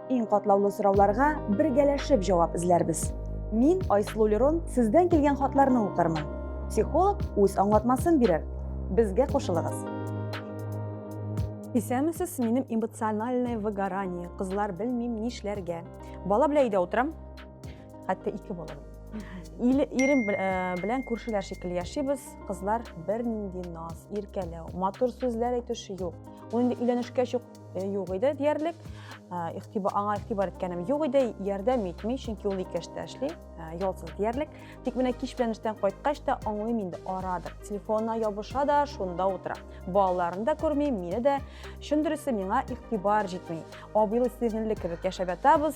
Иң катлаулы сорауларга бергәләшеп җавап эзләрбез. Мин, Айсылу Лерон, сездән килгән хатларны укырмын. Психолог үз аңлатмасын бирер. Безгә кушылыгыз. Исәнмесез, минем эмоциональное выгорание. Кызлар белмим нишләргә. Бала белән өйдә утырам. Хәтта ике бала. Ил, ирем бел- э, белән күршеләр шикелле яшибез. Кызлар бернинди наз, иркәләү, матур сүзләр әйтүче юк. Ул инде өйләнешкәч үк э, юк иде диярлек. Э, игътибар аңа игътибар иткәнем юк иде, ярдәм итми, чөнки ул ике эштә эшли, э, ялсыз диярлек. Тик менә кич белән эштән кайткач та аңлыйм инде арадыр. Телефонына ябыша да, шунда утыра. Балаларын да күрми, мине дә. Чын дөресе миңа игътибар җитми. Абыйлы сеңелле кебек яшәп ятабыз.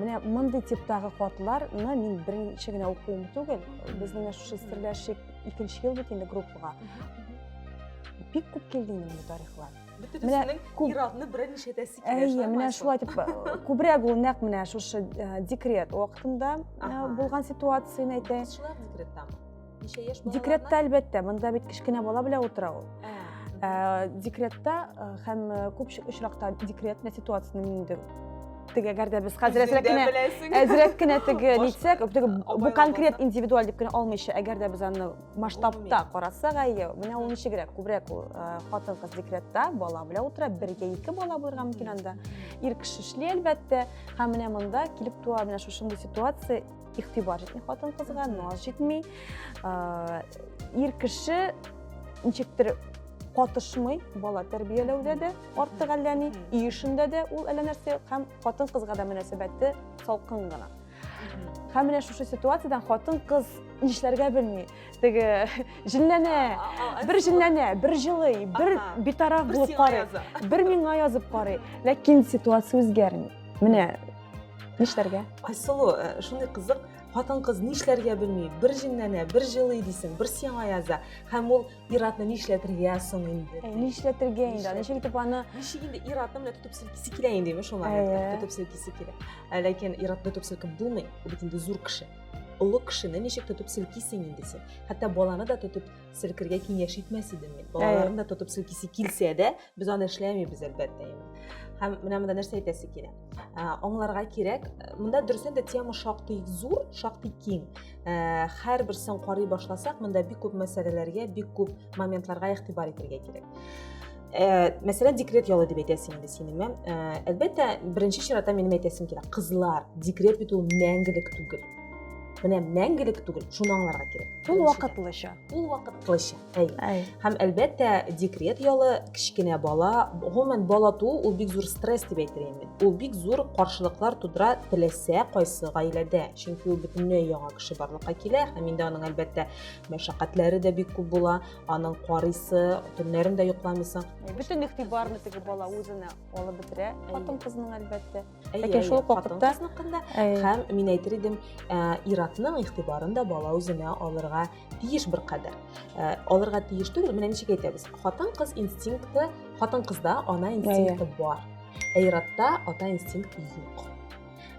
менә мондый типтагы хатларны мин беренче генә укуым түгел безнең менә шушы серләшик икенче ел бит инде группага бик күп килде инде бу тарихлар бөтенесенең ир-атны берәр ничәтәсе килә әйе менә шулай дип күбрәк ул нәкъ менә шушы декрет вакытында булган ситуацияне әйтә кызчылар декреттамы декретта әлбәттә монда бит кечкенә бала белән утыра ул ә, декретта ә, һәм күп очракта декретный ситуацияне инде теге әгәр дә без хәзер әзрәк кенә әзрәк кенә теге нитсәк теге бу конкрет индивидуаль дип кенә алмыйча әгәр дә без аны масштабта карасак әйе менә ул ничегрәк күбрәк ул хатын кыз декретта бала белән утыра бергә ике бала булырга мөмкин анда ир кеше эшли әлбәттә һәм менә монда килеп туа менә шушындый ситуация игътибар җитми хатын кызга наз җитми ир кеше ничектер катышмый бала тәрбияләүдә дә артык әллә ни өй эшендә дә ул әллә нәрсә һәм хатын кызга да мөнәсәбәте салкын гына һәм менә шушы ситуациядән хатын кыз нишләргә белми теге җенләнә бер җенләнә бер җылый бер битараф булып карый бер миңа язып карый ләкин ситуация үзгәрми менә Нишләргә? Айсылу, э, шундый кызык, хатын-кыз нишләргә белми, бер җенләнә, бер җылый дисең, бер сиңа яза, һәм ул иратны нишләтергә соң инде? Э, нишләтергә инде, аны ничек итеп аны... Ничек инде иратны менә тотып селкисе килә инде, шуңа тотып селкисе килә. Ә ләкин иратны тотып селкеп булмый, ул бит инде зур кеше. Олы кешене ничек тотып селкисең инде син? Хәтта баланы да тотып селкергә киңәш итмәс идем мин. Балаларны да тотып селкисе килсә дә, Без аны эшләмибез, әлбәттә. Һәм менә монда нәрсә әйтәсе килә? Аңларга кирәк, монда дөресен дә тема шактый зур, шактый киң. Һәр берсен карый башласак, монда бик күп мәсьәләләргә, бик күп моментларга игътибар итәргә кирәк. Э, мәсәлән декрет ялы дип әйтәсең инде синеме э, әлбәттә беренче чиратта минем әйтәсем килә кызлар декрет бит ул мәңгелек түгел менә мәңгелек түгел шуны аңларга кирәк ул вакытлыча ул вакытлыча Әй. Һәм әлбәттә, декрет ялы, кечкенә бала, гомумән бала туу ул бик зур стресс дип әйтер инде. Ул бик зур каршылыклар тудыра теләсә кайсы гаиләдә, чөнки ул бөтенләй яңа кеше барлыкка килә һәм инде аның әлбәттә мәшәкатьләре дә бик күп була, аның карыйсы, төннәрен дә йокламыйсың. Бөтен игътибарны теге бала үзенә алып бетерә, хатын-кызның әлбәттә. Ләкин шул ук вакытта һәм мин әйтер идем, иратның игътибарын да бала үзенә алырга тиеш бер кадәр. Алырга тиеш түгел, менә ничек әйтәбез. Хатын-кыз инстинкты, хатын-кызда ана инстинкты бар. Ә иратта ата инстинкты юк.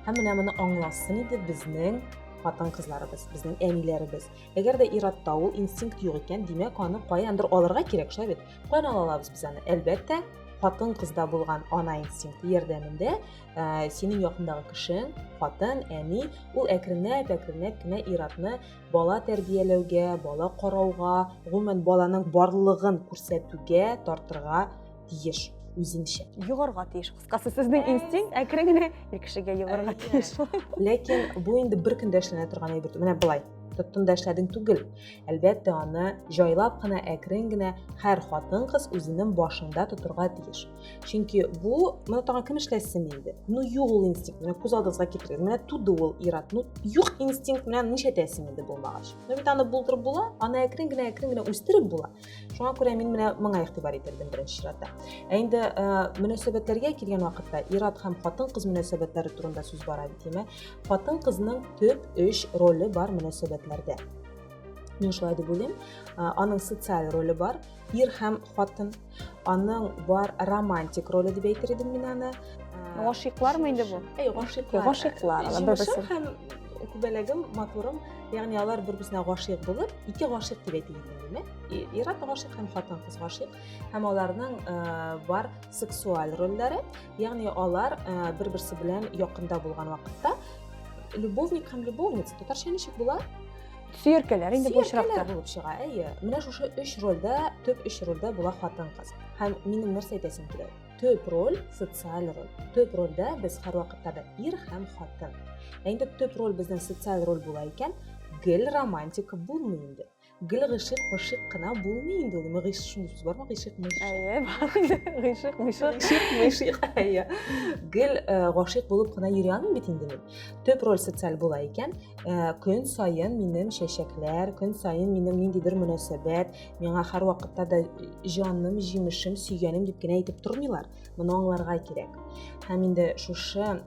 Һәм менә моны аңласын иде безнең хатын кызларыбыз безнең әниләребез әгәр дә иратта ул инстинкт юк икән димәк аны каяндыр алырга кирәк шул бит Канал алабыз без аны. Әлбәттә, хатын-кызда булган ана инстинкты ярдәмендә ә, синең якындагы кешең, хатын, әни, ул әкренләп, әкренләп кенә иратны бала тәрбияләүгә, бала карауга, гомумән баланың барлыгын күрсәтүгә тартырга тиеш үзенчә йогарга тиеш кыскасы сезнең инстинкт әкрен генә ир кешегә йогарга тиеш ләкин бу инде бер көндә эшләнә торган әйбер менә былай тоттым да эшләдең түгел Әлбәттә, аны җайлап кына, әкрен генә һәр хатын-кыз үзенең башында тотырга тиеш. Чөнки бу, моны тагын кем эшләсен инде? Ну, юк ул инстинкт, менә күз алдыгызга китерегез, менә туды ул ир-ат. Ну, юк инстинкт белән нишләтәсең инде булмагач? Ну, бит аны булдырып була, аны әкрен генә, әкрен генә үстереп була. Шуңа күрә мин менә моңа игътибар итәрдем беренче чиратта. Ә инде э, мөнәсәбәтләргә килгән вакытта ир-ат һәм хатын-кыз мөнәсәбәтләре турында сүз бара бит, димәк, хатын-кызның төп өч роле бар мөнәсәбәтләрдә. мин шулай дип уйлыйм аның социаль роле бар ир һәм хатын аның бар романтик роле дип әйтер идем мин аны гашыйклармы инде бу әй гашыйклар гашыйклар җимешем һәм күбәләгем матурым ягъни алар бер берсенә гашыйк булып ике гашыйк дип әйтелгән генә ир-ат гашыйк һәм хатын-кыз гашыйк һәм аларның э, бар сексуаль рольләре Ягъни алар э, бер-берсе белән якында булган вакытта любовник һәм любовница татарча ничек була? Сөеркәләр инде бу очракта булып чыга. Әйе. Менә шушы өч рольдә, төп өч рольдә була хатын-кыз. Һәм минем нәрсә әйтәсем килә? Төп роль социаль роль. Төп рольдә без һәр вакытта да ир һәм хатын. Ә инде төп роль безнең социаль роль була икән, гел романтика булмый инде. Гел гышык, мышык кына булмый инде ул. Мыгыш шул сүз бармы? Гышык, мышык. Әйе, бар инде. Гыйшык, мышык. Гышык, мышык. Әйе. Гел э, гашыйк булып кына йөри алмыйм бит инде мин. Төп роль социаль була икән. Э, Көн саен минем чәчәкләр, көн саен минем ниндидер мөнәсәбәт, миңа һәр вакытта да җаным, җимешем, сөйгәнем дип кенә әйтеп тормыйлар. Моны аңларга кирәк. Һәм инде шушы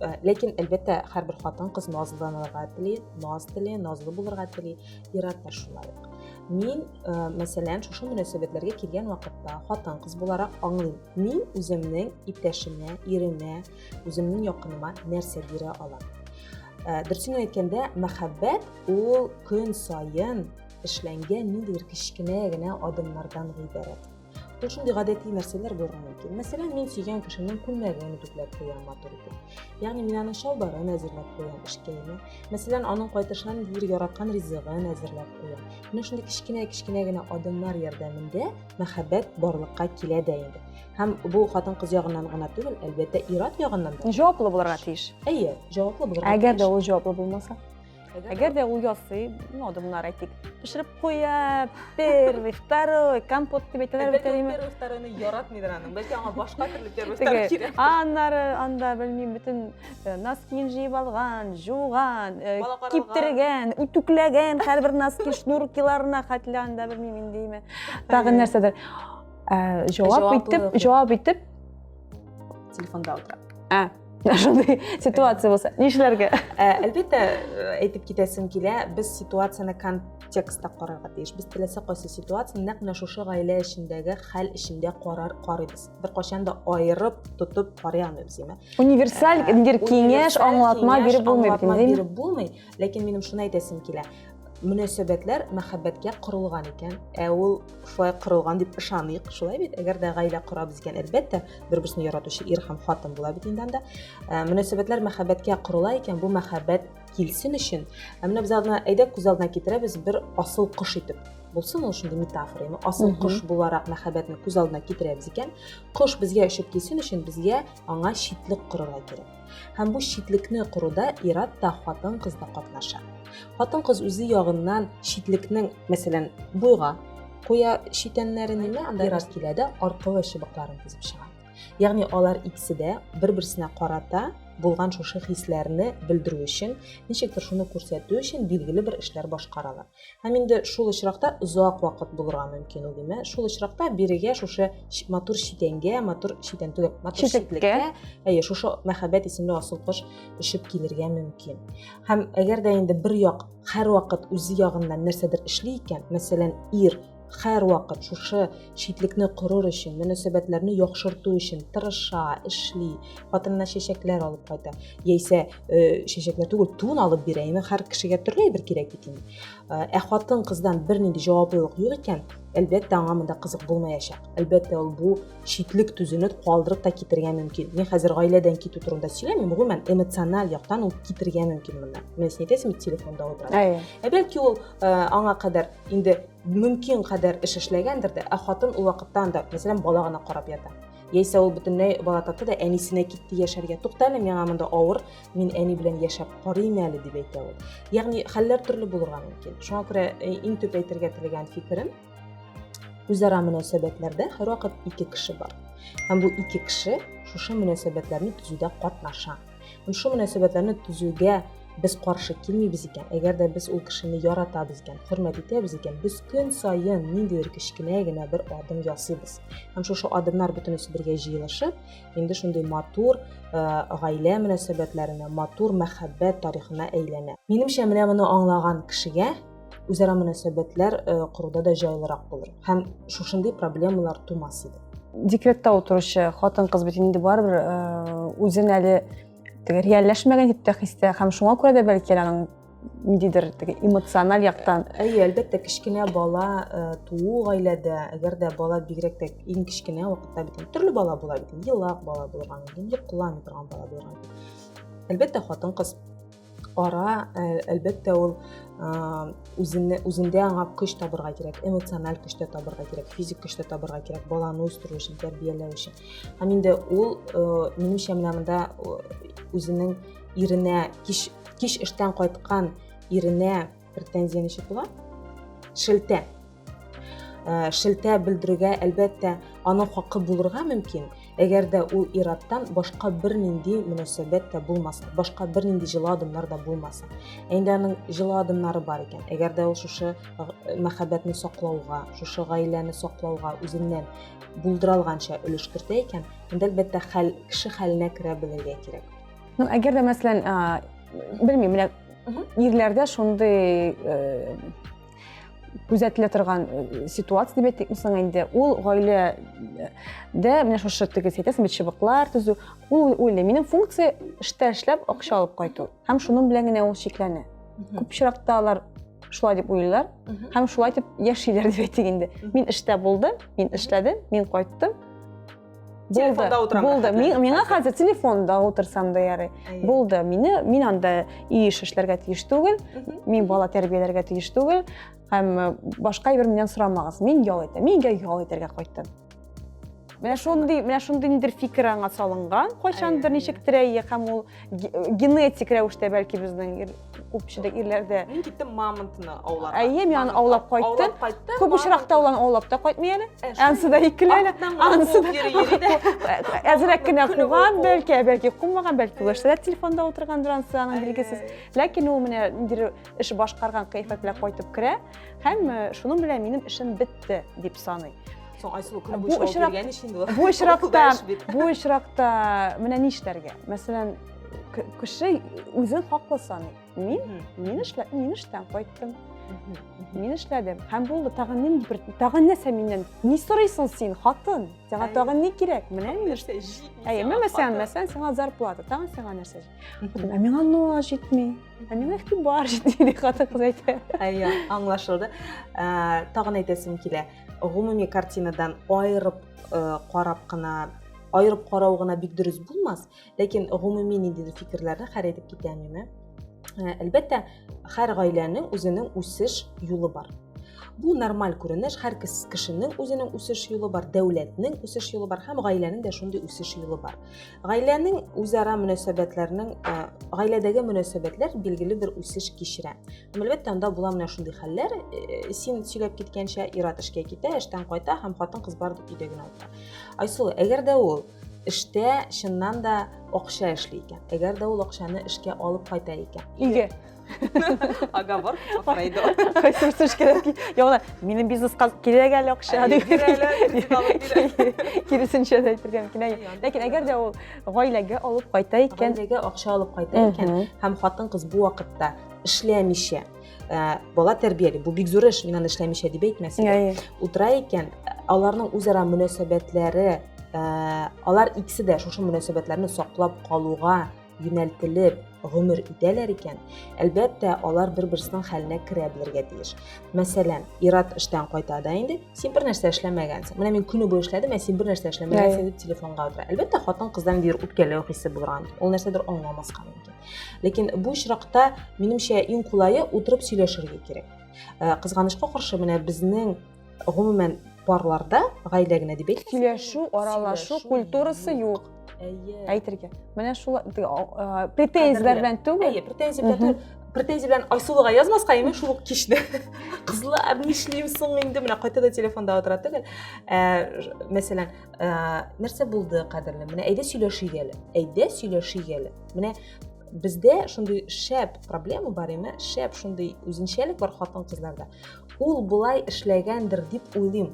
Э, ләкин әлбәттә һәрбер хатын кыз назланырга тели наз тели назлы булырга тели ират та шулай ук мин ә, э, мәсәлән шушы мөнәсәбәтләргә килгән вакытта хатын кыз буларак аңлыйм мин үземнең иптәшемә иремә үземнең якыныма нәрсә бирә алам ә, э, дөресен әйткәндә мәхәббәт ул көн саен эшләнгән ниндидер кечкенә генә адымнардан гыйбарәт Бу шундый гадәти нәрсәләр булырга мөмкин. Мәсәлән, мин сөйгән кешемнең күлмәген үтүкләп куям матур итеп. Ягъни мин аның чалбарын әзерләп куям эшкәйне. Мәсәлән, аның кайтышынан бир яраткан ризыгын әзерләп куям. Менә шундый кечкенә-кечкенә генә адымнар ярдәмендә мәхәббәт барлыкка килә дә инде. Һәм бу хатын-кыз ягыннан гына түгел, әлбәттә, ир-ат ягыннан да. Җаваплы булырга тиеш. Әйе, җаваплы булырга тиеш. Әгәр дә ул җаваплы булмаса? Әгәр дә ул ясый, ну, адымнар әйтик, пешереп куя, первый, второй, компот дип әйтәләр бит әле. Первый, второйны яратмыйдыр аның. Бәлки аңа башка төрле первый, второй кирәк. Аннары анда белмим, бөтен э, носкин җыеп алган, жуган, э, киптергән, үтүкләгән һәрбер носки шнуркиларына хәтле анда белмим индеме. Тагын нәрсәдер. Э, җавап итеп, җавап итеп телефонда утыра. шундый ситуация болса нишләргә ә, әлбәттә ә, әйтеп китәсем килә без ситуацияне контекстта карарга тиеш без теләсә кайсы ситуацияне нәкъ менә шушы гаилә эчендәге хәл эчендә карар карыйбыз беркайчан да аерып тотып карый алмыйбыз универсаль ә, киңәш аңлатма биреп булмый биреп булмый ләкин минем шуны әйтәсем килә мөнәсәбәтләр мәхәббәткә корылган икән ә ул шулай корылган дип ышаныйк шулай бит әгәр дә гаилә корабыз икән әлбәттә бер берсен яратучы ир һәм хатын була бит инде анда ә, мөнәсәбәтләр мәхәббәткә корыла икән бу мәхәббәт килсен өчен ә менә без алдына әйдә күз алдына китерәбез бер асыл кош итеп булсын ул шундый метафора яме асыл кош буларак мәхәббәтне күз алдына китерәбез икән кош безгә очып килсен өчен безгә аңа читлек корырга кирәк Һәм бу читлекне коруда ират та, хатын-кыз да катнаша. Хатын-кыз үзе ягыннан читлекнең, мәсәлән, буйга куя читәннәрен, анда ират килә дә аркылы чыбыкларын тезеп чыга. Ягъни алар икесе дә бер-берсенә карата булган шушы хисләрне белдерү өчен, ничектер шуны күрсәтү өчен билгеле бер эшләр башкаралар. Һәм инде шул очракта озак вакыт булырга мөмкин ул димә. Шул очракта бирегә шушы матур читәнгә, матур читән түгел, матур читлеккә, әйе, шушы мәхәббәт исемле асыл кош өшеп килергә мөмкин. Һәм әгәр дә инде бер як һәрвакыт үзе ягыннан нәрсәдер эшли икән, мәсәлән, ир һәрвакыт шушы читлекне корыр өчен, мөнәсәбәтләрне яхшырту өчен тырыша, эшли, хатынына чәчәкләр алып кайта. Яисә э, чәчәкләр түгел, тун алып бирә. Яме һәр кешегә төрле әйбер кирәк бит инде. Э, ә хатын кыздан бернинди җаваплылык юк икән, әлбәттә аңа монда кызык булмаячак. Әлбәттә ул бу читлек төзүне калдырып та китергә мөмкин. Мин хәзер гаиләдән китү турында сөйләмим, гомумән эмоциональ яктан ул китергә мөмкин монда. Менә син әйтәсең бит телефонда утыра. Ә бәлки ул э, аңа кадәр инде мөмкин кадәр эш эшләгәндер дә, ә хатын ул вакытта анда, мәсәлән, бала гына карап ята. Яисә ул бөтенләй бала тапты да әнисенә китте яшәргә. Туктале, миңа монда авыр, мин әни белән яшәп карыйм әле дип әйтә ул. Ягъни хәлләр төрле булырга мөмкин. Шуңа күрә э, иң төп әйтергә теләгән фикерем, үзара мөнәсәбәтләрдә һәрвакыт ике кеше бар. Һәм бу ике кеше шушы мөнәсәбәтләрне төзүдә катнаша. Һәм шул мөнәсәбәтләрне төзүгә без каршы килмибез икән, әгәр дә без ул кешене яратабыз икән, хөрмәт итәбез икән, без көн саен ниндидер кечкенә генә бер адым ясыйбыз. Һәм шушы адымнар бөтенесе бергә җыелышып, инде шундый матур э, гаилә мөнәсәбәтләренә, матур мәхәббәт тарихына әйләнә. Минемчә, менә моны аңлаган кешегә үзара мөнәсәбәтләр э, коруда да җайлырак булыр һәм шушындый проблемалар тумас иде декретта утыручы хатын кыз бит инде барыбер э, үзен әле теге реальләшмәгән дип тә хистә һәм шуңа күрә дә бәлки аның ниндидер теге эмоциональ яктан әйе әлбәттә кечкенә бала э, туу гаиләдә әгәр дә бала бигрәк тә иң кечкенә вакытта бит төрле бала була бит елак бала булырга мөмкин йоклый алмый торган бала булырга мөмкин әлбәттә хатын кыз ара ә, әлбәттә ул үзенә, үзендә аңа көч табырга кирәк эмоциональ көчтә табырга кирәк физик көчтә табырга кирәк баланы үстерү өчен тәрбияләү өчен һәм инде ул минемчә менә монда үзенең иренә кич кич эштән кайткан иренә претензия ничек була шелтә э, шелтә белдерүгә әлбәттә аның хакы булырга мөмкин әгәр дә ул ираттан башка бернинди мөнәсәбәт тә булмаса башка бернинди җылы адымнар да булмаса ә инде аның җылы адымнары бар икән әгәр дә ул шушы э, мәхәббәтне саклауга шушы гаиләне саклауга үзеннән булдыра алганча өлеш кертә икән анда әлбәттә хәл кеше хәленә керә белергә кирәк Ну, әгәр дә, мәсәлән, белмим, менә ирләрдә шундый күзәтелә торган э, ситуация дип әйтик соң инде ул гаиләдә менә шушы тегез әйтәсең бит чыбыклар төзү ул уйлый минем функция эштә эшләп акча алып кайту һәм шуның белән генә ул чикләнә күп очракта алар шулай дип уйлыйлар һәм шулай дип яшиләр дип әйтик инде мин эштә булдым мин эшләдем мин кайттым болды болды миңа хәзер телефонда отырсам да ярый болды мені мин анда үй эш эшләргә тиеш түгел мин бала тәрбияләргә тиеш түгел һәм э, башка әйбер миннән сорамагыз мин ял итәм мин өйгә ял итәргә кайттым менә шундый менә шундый нидер фикер аңа салынган кайчандыр ничектер әйе һәм ул генетик рәвештә бәлки безнең күпчелек ирләрдә мин киттем мамонтны аулап әйе мин аны аулап кайттым күп очракта ул аны аулап та кайтмый әле анысы да икеле әле анысы да әзрәк кенә куган бәлки бәлки кумаган бәлки плашта да телефонда утыргандыр анысы аның билгесез ләкин ул менә ниндидер эш башкарган кыяфәт белән кайтып керә һәм шуның белән минем эшем бетте дип саный соң айсылу күні бу очракта бу очракта менә ни эшләргә мәсәлән кеше үзен хаклы саный мин мин эшлә мин эштән кайттым мин эшләдем һәм булды тагын нин бер тагын нәрсә миннән ни сорыйсың син хатын сиңа тагын ни кирәк менә мин нәрсә әйе мен мәсәлән мәсәлән сиңа зарплата тагын сиңа нәрсә ә миңа ноа җитми ә миңа игътибар җитми дип хатын кыз әйтә әйе аңлашылды тагын әйтәсем килә гомуми картинадан аерып э, карап кына аерып карау гына бик дөрес булмас ләкин гомуми ниндидер фикерләрне хәл итеп китә миме э, әлбәттә һәр гаиләнең үзенең үсеш юлы бар бу нормаль күренеш һәр кешенең үзенең үсеш юлы бар дәүләтнең үсеш юлы бар һәм гаиләнең дә шундый үсеш юлы бар Гаиләнең үзара мөнәсәбәтләренең э, гаиләдәге мөнәсәбәтләр билгеле бер үсеш кичерә. Һәм әлбәттә анда була менә шундый хәлләр, э, син сөйләп киткәнчә ир-ат эшкә китә, эштән кайта һәм хатын-кыз бар дип өйдә генә утыра. Айсылу, әгәр дә ул эштә чыннан да акча эшли икән, әгәр дә ул акчаны эшкә алып кайта икән. Иге. Оговор Фрейдо. Кайсы сүз кирәк? Яна, минем бизнеска кирәк әле акча дип. Киресенчә дә әйтергә мөмкин. Ләкин әгәр дә ул гаиләгә алып кайта икән, гаиләгә акча алып кайта икән һәм хатын-кыз бу вакытта эшләмичә, бала тәрбияли, бу бик зур эш, мин аны эшләмичә дип әйтмәсен. Утыра икән, аларның үзара мөнәсәбәтләре, алар икесе дә шушы мөнәсәбәтләрне саклап калуга юнәлтелеп гомер итәләр икән, әлбәттә, алар бер-берсенең хәленә керә белергә тиеш. Мәсәлән, Ират эштән кайта да инде, син бер нәрсә эшләмәгәнсең. Менә мин көне буе эшләдем, ә син бер нәрсә эшләмәгәнсең дип телефонга утыра. Әлбәттә, хатын-кыздан бер үпкәләү хисе булырга мөмкин. Ул нәрсәдер аңламаска мөмкин. Ләкин бу очракта, минемчә, иң кулае утырып сөйләшергә кирәк. Э, кызганычка каршы, менә безнең Гомумән, парларда гаилә генә дип әйт. Сөйләшү, аралашу культурасы юк. Әйтергә. Менә шул претензияләр белән түгел. Әйе, претензияләр белән түгел. Претензия белән Айсулуга язмаска, әйме шул ук кичне. Кызлар, нишлим соң инде, менә кайта да телефонда утыра түгел. Мәсәлән, нәрсә булды, кадерле? Менә әйдә сөйләшик әле. Әйдә сөйләшик әле. Менә бездә шундый шәп проблема бар, әйме? Шәп шундый үзенчәлек бар хатын-кызларда. Ул болай эшләгәндер дип уйлыйм.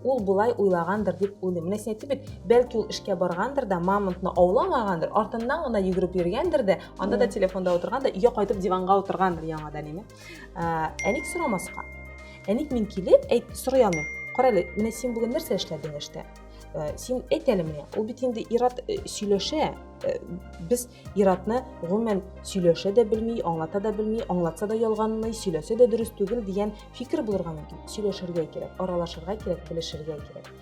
Ул болай уйлагандыр дип уйлыйм. Менә син әйтте бит, бәлки ул эшкә баргандыр да, мамонтны ауламагандыр, артыннан гына йөгереп йөргәндер дә, анда да телефонда утырган да, өйгә кайтып диванга утыргандыр яңадан әни. Ә, әник сорамаска. Әник мин килеп, әйт, сорый алмыйм. Кара әле, менә син бүген нәрсә эшләдең эштә? Ә, син әйт әле менә. Ул бит инде ират э, сөйләшә. Ә, без Иратны, гомумән, сөйләшә дә белми, аңлата да белми, аңлатса да ялганлый, сөйләсә дә дөрес түгел дигән фикер булырга мөмкин. Сөйләшергә кирәк, аралашырга кирәк, белешергә кирәк.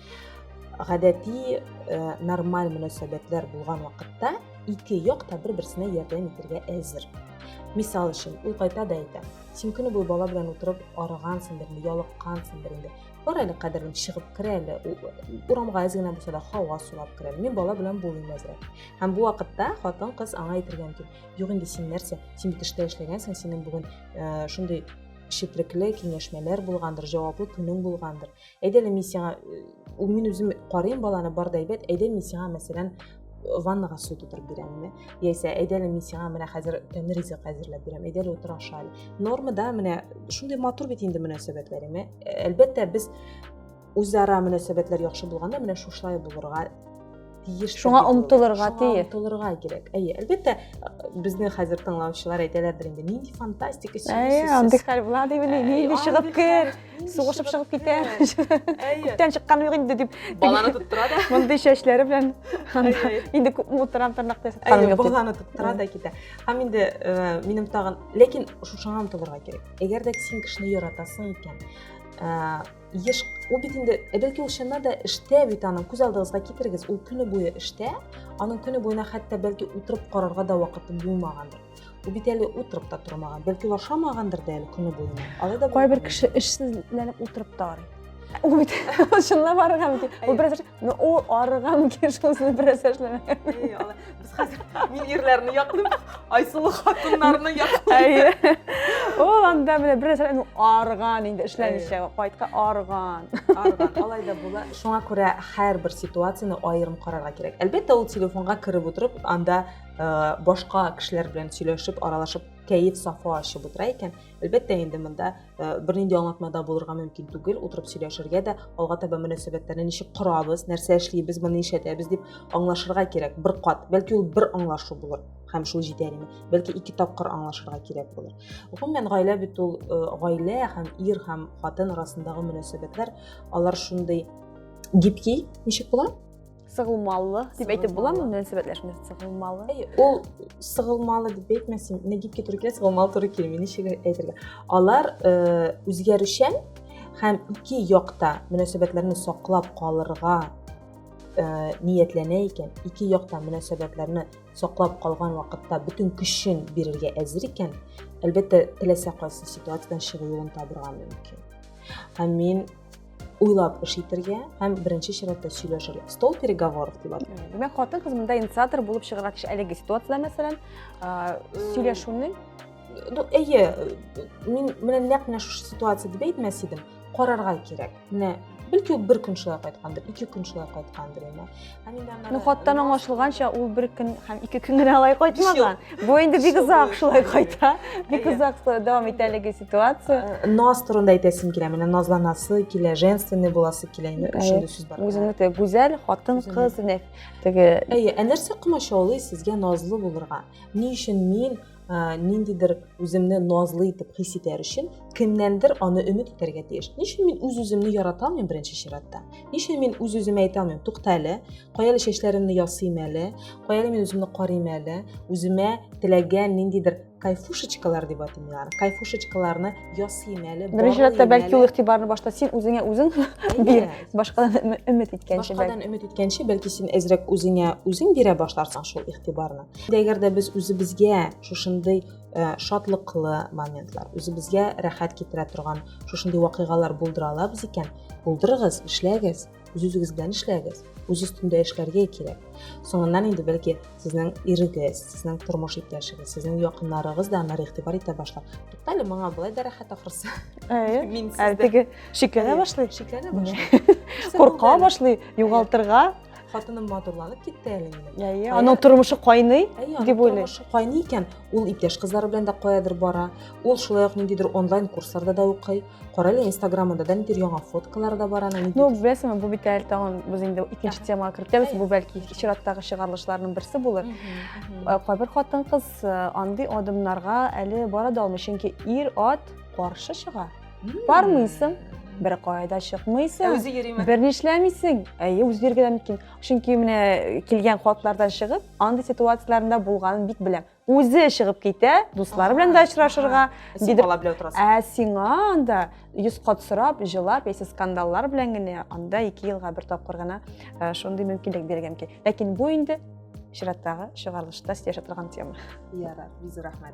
Гадәти э, нормаль мөнәсәбәтләр булган вакытта ике як та бер-берсенә ярдәм итәргә әзер. Мисал өчен, ул кайта да әйтә. Син көне буе бала белән утырып арыгансың инде, ялыккансың инде. Бар әле кадерен чыгып керә әле, урамга әз генә булса да һава сулап керә әле. Мин бала белән булмыйм әзрәк. Һәм бу вакытта хатын-кыз аңа әйтергә мөмкин. Юк инде син нәрсә? Син бит эштә эшләгәнсең, синең бүген э, шундый шиплекле киңәшмәләр булгандыр, җаваплы көнең булгандыр. Әйдә әле мин сиңа э, ул мин үзем карыйм баланы бар да әйбәт, әйдә мин сиңа мәсәлән ваннага су тутырып бирәмме яисә әйдә әле мин сиңа менә хәзер тәмле ризык әзерләп бирәм әйдә әле утыр аша әле нормада менә шундый матур бит инде мөнәсәбәтләр әлбәттә без үзара мөнәсәбәтләр яхшы булганда менә шушылай булырга тиеш шуңа омтылырга тиеш омтылырга кирәк әйе әлбәттә безне хәзер тыңлаучылар әйтәләрдер инде нинди фантастика әйе андый хәл була дип нинди чыгып кер сугышып чыгып китә күптән чыккан юк инде дип баланы тоттыра да мондый чәчләре белән инде күпме утырам тырнакта ясатканым юк баланы тоттыра да китә һәм инде минем тагын ләкин шушыңа омтылырга кирәк әгәр дә син кешене яратасың икән еш ул бит инде бәлки ул чыннан да эштә бит аның күз алдыгызга китерегез ул көне буе эштә аның көне буена хәтта бәлки утырып карарга да вакыты булмагандыр ул бит әле утырып та тормаган бәлки ул ашамагандыр да әле көне буена алай да кайбер кеше эшсезләнеп утырып та арый ул бит чынлап арыган микән ул бераз но ул арыган микән шунысын бераз эшләмәгән Без хәзер мин ирләрне яклыйм, Айсылу хатыннарны яклыйм. Әйе. Ул анда менә бер нәрсә ну арган инде эшләмичә кайтка арган. Арган. Алай да була. Шуңа күрә һәрбер ситуацияне аерым карарга кирәк. Әлбәттә, ул телефонга кереп утырып, анда э, башка кешеләр белән сөйләшеп, аралашып, кәеф сафа ачып утыра икән. Әлбәттә, инде монда Э, бернинди аңлатмада булырга мөмкин түгел утырып сөйләшергә дә алга таба мөнәсәбәтләрне ничек корабыз нәрсә эшлибез моны ишәтәбез дип аңлашырга кирәк бер кат бәлки ул бер аңлашу булыр һәм шул җитәр име бәлки ике тапкыр аңлашырга кирәк булыр гомумән гаилә бит ул э, гаилә һәм ир һәм хатын арасындагы мөнәсәбәтләр алар шундый гибкий ничек була сыгылмалы дип әйтеп буламы мөнәсәбәтләшмә сыгылмалы ул сыгылмалы дип әйтмәсен нәгипкә туры килә сыгылмалы туры килми ничек әйтергә алар э, үзгәрүчән һәм ике якта мөнәсәбәтләрне саклап калырга э, ниятләнә икән ике якта мөнәсәбәтләрне саклап калган вакытта бөтен көчен бирергә әзер икән әлбәттә теләсә кайсы ситуациядан чыгу юлын табырга мөмкин һәм мин уйлап эш итәргә һәм беренче чиратта сөйләшергә стол переговоров дип атый димәк хатын кыз монда инициатор булып чыгарга тиеш әлеге ситуациядә мәсәлән сөйләшүнең ну әйе мин менә нәкъ менә шушы ситуация дип әйтмәс идем карарга кирәк менә бәлки ул бер көн шулай кайткандыр ике көн шулай кайткандыр инде Нухаттан аңлашылганча, ул бер көн һәм ике көн генә алай кайтмаган. Бу инде бик озак шулай кайта. Бик озак дәвам итә әлеге ситуация. Э, наз турында әйтәсем килә. Менә назланасы килә, женственный буласы килә. Инде шундый сүз бар. Үзеңне теге гүзәл хатын кыз дип теге. Әйе, ә нәрсә комачаулый сезгә назлы булырга? Ни өчен мин ә, ниндидер үземне назлы итеп хис итәр өчен кемнәндер аны өмет итәргә тиеш ни өчен мин үз үземне ярата алмыйм беренче чиратта ни өчен мин үз үземә әйтә алмыйм тукта әле кая әле чәчләремне ясыйм әле кая әле мин үземне карыйм әле үземә теләгән ниндидер кайфушечкалар дип атыйм мин аны кайфушечкаларны ясыйм әле беренче чиратта бәлки ул игътибарны башта син үзеңә үзең бир башкадан өмет иткәнче башкадан өмет иткәнче бәлки син әзрәк үзеңә үзең бирә башларсың шул игътибарны Әгәр дә без үзебезгә шушындый э, шатлыклы моментлар, үзебезгә рәхәт китерә торган шушындый вакыйгалар булдыра алабыз икән, булдырыгыз, эшләгез, үз-үзегез белән эшләгез. Үз өстендә эшләргә кирәк. Соңыннан инде бәлки сезнең ирегез, сезнең тормыш иптәшегез, сезнең якыннарыгыз да аны игътибар итә башлар. Туктале, моңа болай да рәхәт ахрысы. Әйе. Мин сездә. Әлеге шикләнә башлый. Шикләнә башлый. Курка башлый, югалтырга. хатыным матурланып китте әле минем әйе аның тормышы кайный дип уйлыйм тормышы кайный икән ул иптәш кызлары белән дә каядыр бара ул шулай ук ниндидер онлайн курсларда да укый кара әле инстаграмында да ниндидер яңа фоткалар да бар ана ну беләсеңме бу бит әле тагын без инде икенче темага кертәбез бу бәлки чираттагы чыгарылышларның берсе булыр э, кайбер хатын кыз э, андый адымнарга әле бара да алмый чөнки ир ат каршы чыга бармыйсың бер кайда чыкмыйсың ә үзе йөриме бер нишләмисең әйе үзе йөргәдә мөмкин чөнки менә килгән хатлардан чыгып андый ситуацияләрендә булганын бик беләм үзе чыгып китә дуслары белән дә очрашырга син бала белән утырасың ә сиңа анда йөз кат сорап җылап яисә скандаллар белән генә анда ике елга бер тапкыр гына э, шундый мөмкинлек бирелгән мөмкин ләкин бу инде чираттагы чыгарылышта сөйләшә торган тема ярар бизу рәхмәт